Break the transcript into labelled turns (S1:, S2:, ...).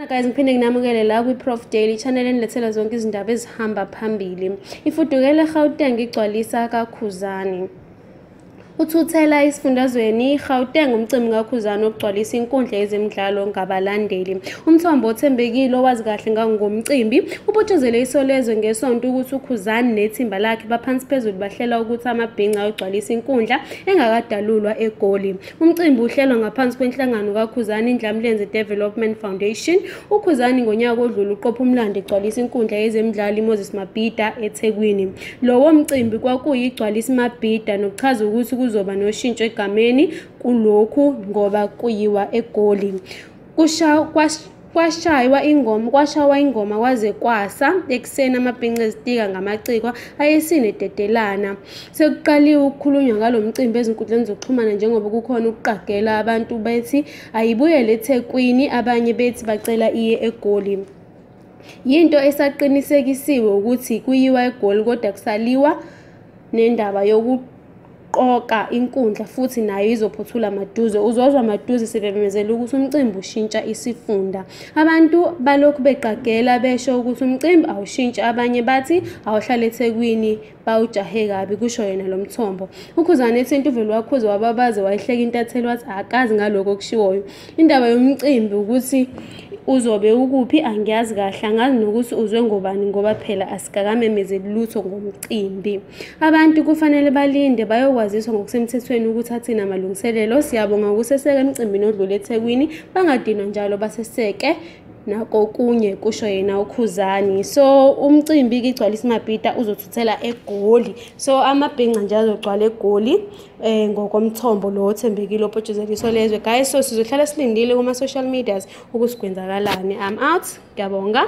S1: guys ngiphinde nginamukele la kwi-prof daily channel enilethela zonke izindaba ezihamba phambili ifudukele gauteng igcwalisa kakhuzani uthuthela esifundazweni i-gauteng umcimbi kakhuzane okugcwalisa inkundla yezemidlalo ngabalandeli umthombo othembekile owazi kahle ngangomcimbi ubotshezele isolezwe ngesonto ukuthi ukhuzane nethimba lakhe baphansi phezulu bahlela ukuthi amabhinca ayogcwalisa inkundla engakadalulwa egoli Umcimbi uhlelwa ngaphansi kwenhlangano kaKhuzani Ndlamlenze Development Foundation. UKhuzani ngonyaka odlule uqopha umlando egcwalisa inkundla yezemidlalo iMoses Mabhida eThekwini. Lowo mcimbi kwakuyigcwalisa iMabhida nokuchaza ukuthi kuzoba noshintsho egameni kulokhu ngoba kuyiwa eGoli. kwashaywa ingoma kwashawa ingoma kwaze kwasa ekuseni amabhinca ezitika ngamacikwa ayesine dedelana sekuqaliwe ukukhulunywa ngalo mcimbi ezinkundleni zokuxhumana njengoba kukhona ukuqagela abantu bethi ayibuyele ethekwini abanye bethi bacela iye egoli yinto esaqinisekisiwe ukuthi kuyiwa egoli kodwa kusaliwa nendaba yoku qoqa inkundla futhi nayo izophothula maduze uzozwa maduze sebememezela ukuthi umcimbi ushintsha isifunda abantu balokhu beqagela besho ukuthi umcimbi awushintshi abanye bathi awuhlale ethekwini bawujahe kabi kusho yena lo mthombo ukhuzane ethinta uveli wakhuze wababaze wayihleka intatheli wathi akazi ngalokho okushiwoyo indaba yomcimbi ukuthi uzobe ukuphi angiyazi kahle angazi nokuthi uzwe ngobani ngoba phela asikakamemezeli lutho ngomcimbi Abantu kufanele balinde bayokwaziswa ngokusemthethweni ukuthi athina amalungiselelo. Siyabonga ukuseseka emcimbini odlule eThekwini, bangadinwa njalo baseseke nakokunye kusho yena ukhuzani so umcimbi ke igcwala isimabhida uzothuthela egoli so amabhinca nje azogcwala egoli eh ngokomthombo lo othembekile opotshuzeliso lezwe guys so sizohlala silindile kuma social medias ukusigwenzakalani i'm out ngiyabonga